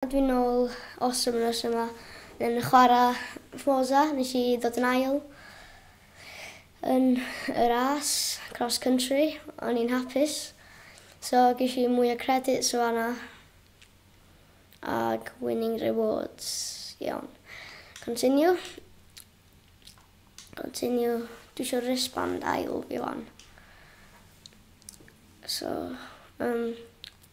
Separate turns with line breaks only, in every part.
Dw i'n ôl os am yr wythnos yma yn chwarae Forza, nes i ddod yn ail yn y ras cross country, o'n i'n hapus so gesh i mwy o credits o fan'na ag winning rewards, iawn. Continue, continue, dwi isio wristband ail fi wan. So yym.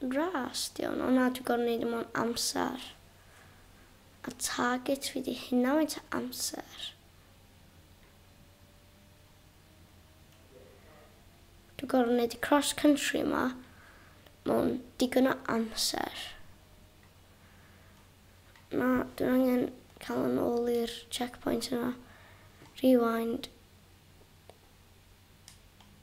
Ras di hwn, ond na dwi gorfod neud o mewn amser. A target fi di hynna faint o amser. Dwi gorfod neud y cross country yma mewn digon o amser. Na, dwi'n angen cael yn ôl i'r checkpoint yna. Rewind.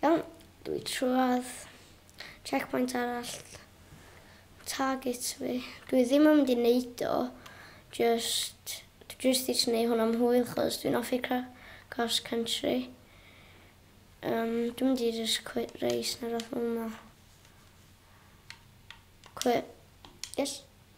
Iawn, dwi trwad checkpoint arall target fi. Dwi ddim yn mynd i neud o, just, dwi jyst eisiau neud hwn am hwyl chos dwi'n offi cross country. Um, dwi'n mynd i just quit race neu rhywbeth fel yma. Quit. Yes.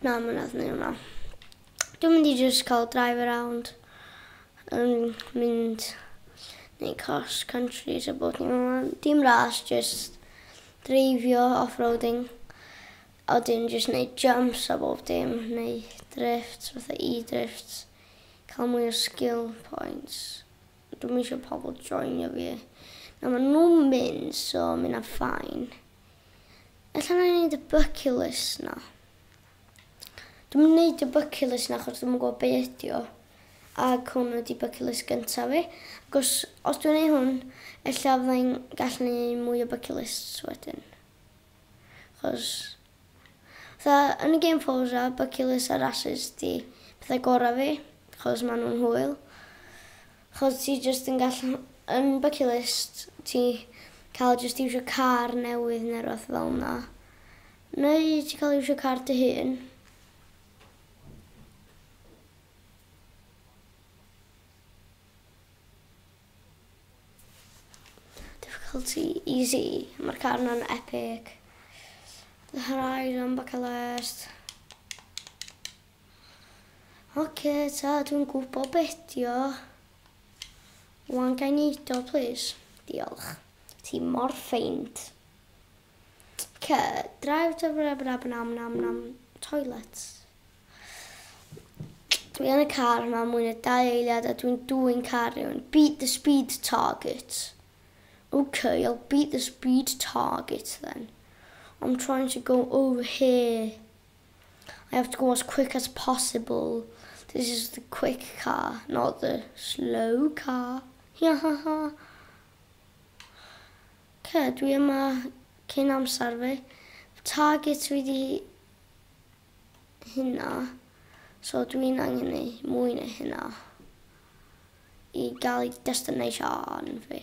Na, mae'n anodd neud hwnna. Dwi'n mynd i jyst cael drive around yn mynd neu cross country so bod ni'n mynd. Dim ras, jyst dreifio, off-roading. A wedyn jyst neud jumps a bob dim, neu drifts, fatha e-drifts. Cael mwy o skill points. Dwi'm isio pobl joinio fi. Na, maen nhw'n mynd so mae hynna'n fine. Ella na i neud y bucket list na. Dwi'm yn neud y bucket list na achos dwi'm yn gwybod be ydi o. Ac hwn ydi bucket list gyntaf fi. Ac os, os dwi'n neud hwn, ella fydda i'n gallu neud mwy o bucket lists wedyn. Achos, fatha, yn y game Forza, bucket list a races di pethau gorau fi, achos maen nhw'n hwyl. Chos ti jyst yn gallu yn bucket list ti cael jyst iwsio car newydd neu rywbeth fel 'na. Neu ti'n cael iwsio car dy hun. Difficulty easy. Mae'r car yna'n epic. The Horizon bucket list. Oce ta dwi'n gwbo be ydi o. Wan gai neud o plîs? Diolch. Ti mor ffeind. Oce drive to blah blah blah nam nam nam toilet. Dwi yn y car ma mwy na dau eiliad a dwi'n dwyn car rhywun. Beat the speed target. Ok, I'll beat the speed target then. I'm trying to go over here. I have to go as quick as possible. This is the quick car, not the slow car. Ia ha ha. Ce, dwi yma cyn amser fi. Target fi di hynna. So dwi'n angen ei mwy na hynna. I gael ei destination fi.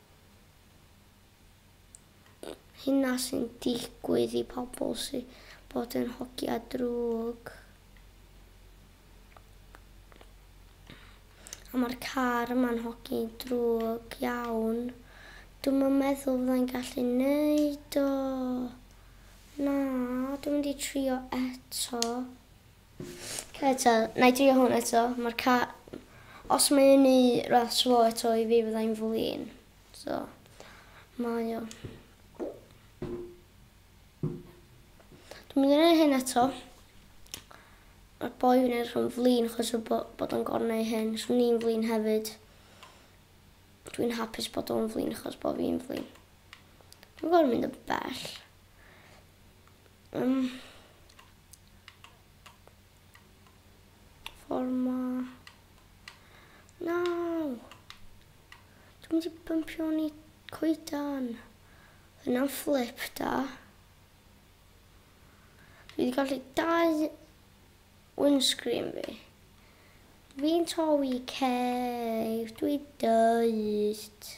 Hynna sy'n digwydd i pobl sy bod yn hogia drwg. A mae'r car yma'n hogi drwg iawn. Dwi'm yn meddwl fyddai'n gallu neud o. Na, dwi'n mynd i trio eto. Eto, na i drio hwn eto, mae'r ca... Os mae un i ras fo eto i fi fydda i'n flin. So, mae o. Dwi'n mynd i wneud hyn eto. Mae'r boi fi'n edrych yn flin achos o bo- bod o'n gorfod wneud hyn. So ni'n flin hefyd. Dwi'n hapus bod o'n flin achos bod fi'n flin. Dwi'n gorfod mynd yn bell. Um, Forma. No! Dwi'n mynd i bympio ni coedan. Yna'n fflip da. Dwi wedi gallu dau windscreen fi. Fi'n torri cef, dwi dyst.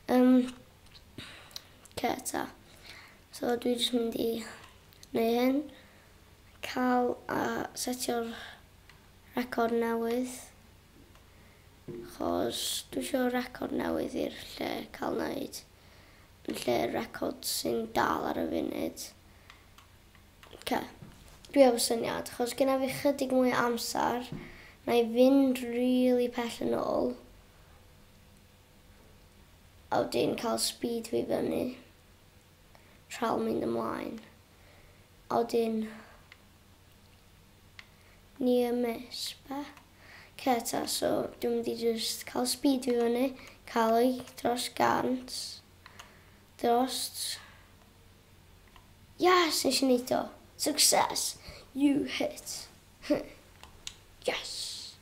Yym, ce ta. So dwi jyst mynd i neu hyn. Cal a setio'r record newydd. Chos dwi isio record newydd i'r lle cael wneud. Yn lle'r record sy'n dal ar y funud. Ce. Dwi efo syniad, chos gyda fi chydig mwy o amser, na i fynd rili pell yn ôl. A wedyn cael speed fi fyny. Rhal mynd ymlaen. A wedyn near miss be? Ce ta, so dwi'n mynd i jyst cael speed fi fyny, cael ei dros gant, dros... Yes, nes i wneud o! Success! You hit! yes!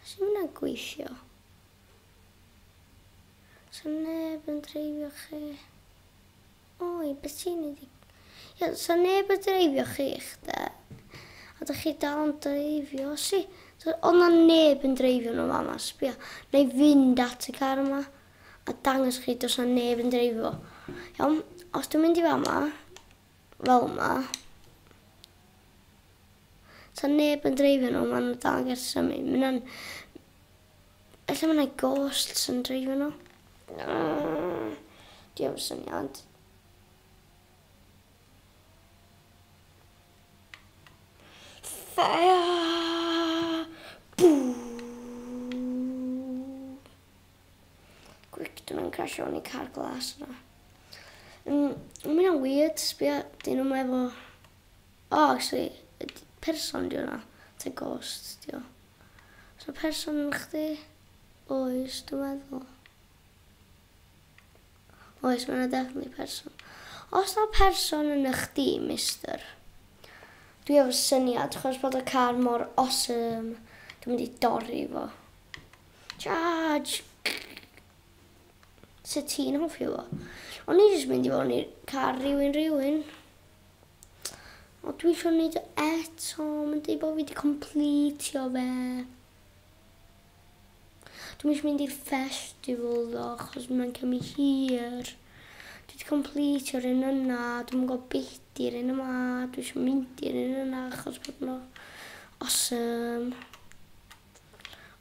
Sut mae hwnna'n gweithio? Sa neb yn dreifio chi. Oi, beth ti'n ei ddig? Ia, sa neb yn dreifio chi, chda. A da chi dal yn dreifio, si. Ond na neb yn dreifio nhw fama, sbio. Na i fynd at y car yma a dangos chi dos na neb yn dreifio. Iawn, os dwi'n mynd i fama, fel 'ma. Sa neb yn dreifio nhw, maen nhw'n dal yn gallu symud. Mae hynna'n... Ella mae yna ghosts yn dreifio nhw? Uh, Dwi am syniad. Fire! Boo! Gwyc, dyn nhw'n crasio yn ei car glas yna. Mm, mae hynna'n weird, sbio, dyn nhw'n meddwl... O, oh, actually, person di hwnna. Te ghost, di o. So person yn chdi? Oes, dwi'n meddwl. Oes, mae 'na definitely person. Os 'na person yn ych dîm, Mister? Dwi efo syniad, chos bod y car mor awesome, dwi'n mynd i dorri fo. Charge! Sut ti'n hoffi fo? O'n i jyst mynd i fod i'r car rhywun rhywun. O, dwi eisiau gwneud o eto, mae'n dweud bod fi wedi completio fe. Dwi'm eisiau mynd i'r festival ddo, achos mae'n cymryd hir. Dwi wedi completio'r un yna, dwi'm yn gwybod beth di'r un yma, dwi eisiau mynd i'r un yna achos bod nhw awesome.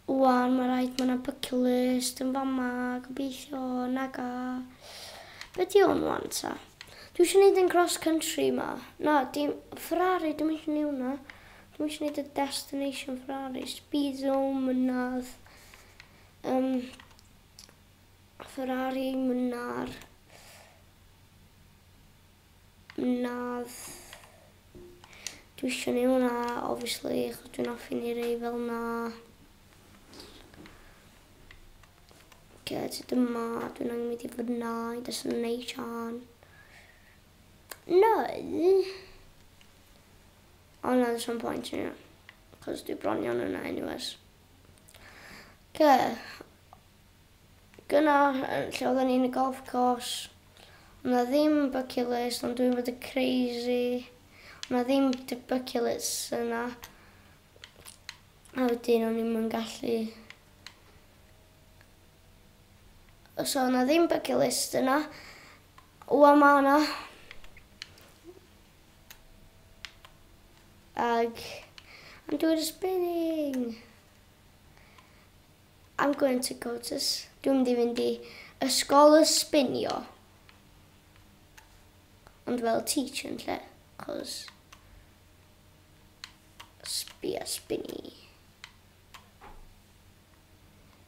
Wan, mae rhaid mae yna bucket list yn fama, gobeithio, naga. Be di hwn wan ta? Dwi eisiau gwneud yn cross country yma. Na, dim Ferrari, dwi'n eisiau gwneud hwnna. Dwi isio neud y destination for artist byd o mynadd yym Ferrari mynadd mynadd dwi isio neu hwnna obviously achos dwi'n offi neu rei fel na get it yma dwi'n angen mynd i fyna i destination neu Ond na does na'm point yn hynna. Cos dwi bron iawn yna anyways. Oce. Gyna yn lle oedden ni yn y golf course. Oedd na ddim bucket list ond dwi'n bod yn crazy. Oedd na ddim d- bucket list yna. A wedyn o'n i'm yn gallu... Os oedd na ddim bucket list yna. Wan ma' na. Ag I'm doing the spinning. I'm going to go to... Dwi'n mynd i fynd i ysgol y sbinio. Ond fel teach yn lle, cos... Sbia spinny.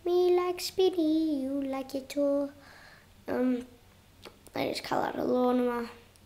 Me like spinny, you like it too. Um, I just cael ar y lôn yma.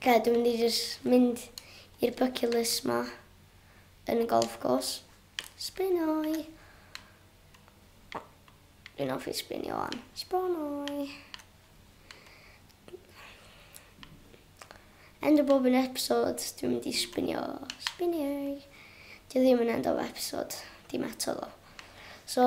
Oce, dwi'n mynd i jyst mynd i'r bucket list 'ma yn y golf course. Sbinoi! Dwi'n offi sbinio wan. Sbonoi! End o bob un episode, dwi'n mynd i sbinio. Sbinoi! Dwi ddim yn end o episode, dim eto ddo. So,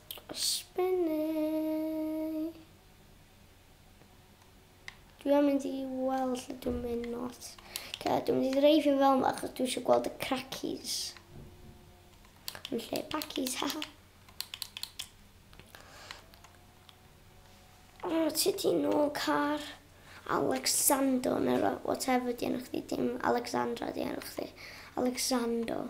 Spinny. Dwi am mynd i weld lle dwi'n mynd not. Okay, dwi'n mynd i dreifio fel yma achos dwi eisiau gweld y crackies. Yn lle packies, ha. O, oh, ti di nôl car. Alexander, neu whatever di enw chdi, dim Alexandra di enw chdi. Alexander.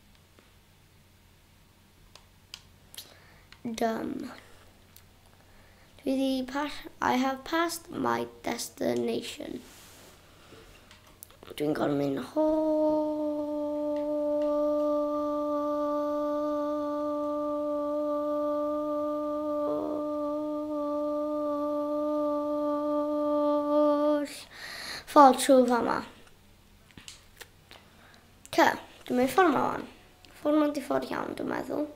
Done. Dwi di pas... I have passed my destination. Dwi'n gorfod mynd holl ffordd trwy fama. Ta, dwi'n mynd ffordd ma wan. Ffordd ma'n di ffordd iawn, dwi'n meddwl.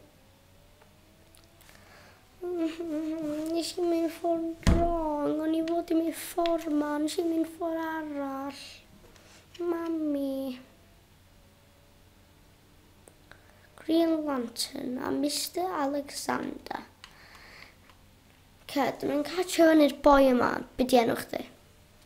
Nes i mynd ffordd wrong, o'n i fod i mynd ffordd ma, nes i mynd ffordd arall. Mami. Green Lantern a Mr Alexander. Ced, dwi'n mynd catch o fyny'r boi yma, byd i enw chdi.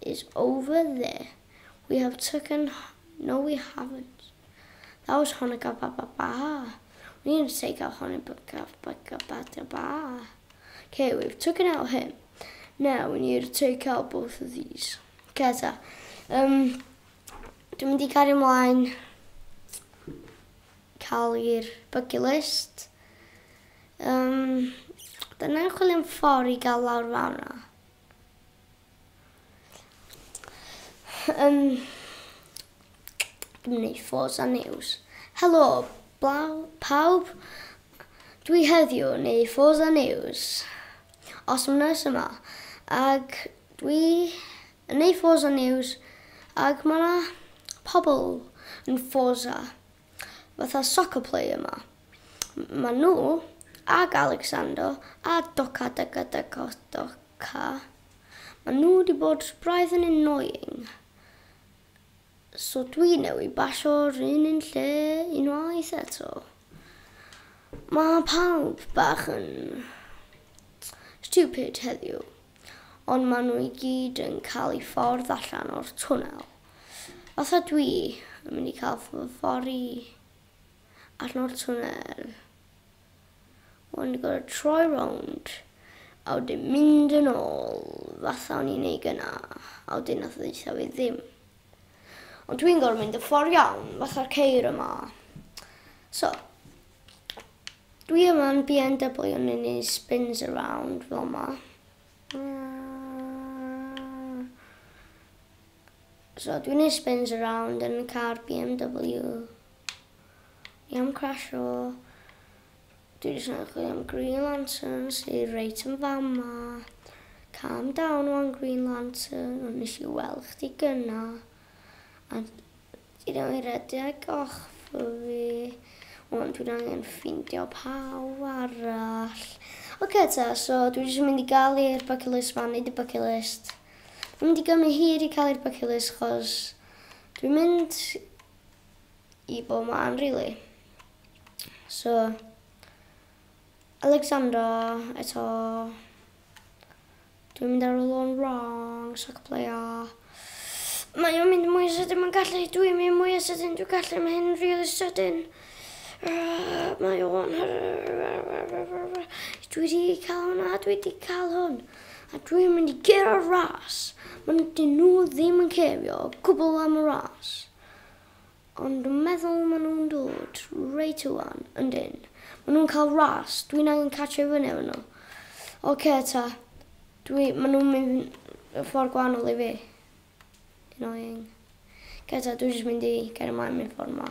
is over there, we have taken no we haven't, that was Honoka ba ba ba, we didn't take out Honoka ba ba ba ba ba ba, okay we've taken out him, now we need to take out both of these. Okay ta, um, dwi'n mynd i gario ymlaen cael i'r bucket list. Um, Dyna'n chwilio'n ffordd i gael lawr fawr yna. Ym... Dwi'n mynd i ffos a news. Helo, blaw, pawb. Dwi heddiw yn ei ffos a news. Os am nes yma. Ac dwi yn ei ffos a news. Ac mae yna pobl yn ffos a. fatha soccer player 'ma. Ma' nhw, ag Alexander a Doka Deka Deka Doka, ma' nhw 'di bod braidd yn annoying. So dwi newydd basio'r un un lle unwaith eto. Ma' pawb bach yn stupid heddiw, ond ma' nhw i gyd yn cael eu ffordd allan o'r twnnel. Os ydw i yn mynd i cael fy fori arno'r twnnel, o'n i'n gorfod troi rownd a wedyn mynd yn ôl, fatha o'n i'n ei gyna, a wedyn nath ddeitha fi ddim. Ond dwi'n gorfod mynd y ffordd iawn, fatha'r ceir yma. So, dwi yma'n BMW yn un un spins around fel yma. So dwi'n neud spins around yn car BMW. Ni am crasho. Dwi jyst yn chwilio am Green Lantern sy reit yn fama. Calm down wan Green Lantern, ond nes i weld chdi gynna. A Ti ddim yn rhedeg ochra fi. Ond dwi'n angen ffeindio pawb arall. Oce ta, so dwi jyst yn mynd i gael i'r bucket list ma, neud y bucket list. Dwi'n mynd i gymryd hir i cael i'r bucket list, chos dwi'n mynd i bod ma'n rili. So, Alexandra eto. Dwi'n mynd ar y lôn wrong, so cypleio. Mae o'n mynd mwy sydyn, mae'n gallu, dwi'n mynd mwy o sydyn, dwi'n gallu, mae hyn really sydyn. Mae o'n... Dwi wedi cael hwnna, dwi wedi cael hwn. A dwi'n mynd i ger o'r ras. Mae'n dyn nhw ddim yn cerio, cwbl am y ras. Ond dwi'n meddwl maen nhw'n dod reit ŵan, yndyn. Maen nhw'n cael ras, dwi'n angen catch i fyny efo nhw. Ok ta, dwi, maen nhw'n mynd y ffordd gwahanol i fi. Annoying. Ok ta, dwi'n jyst mynd i gael ymlaen mynd ffordd ma.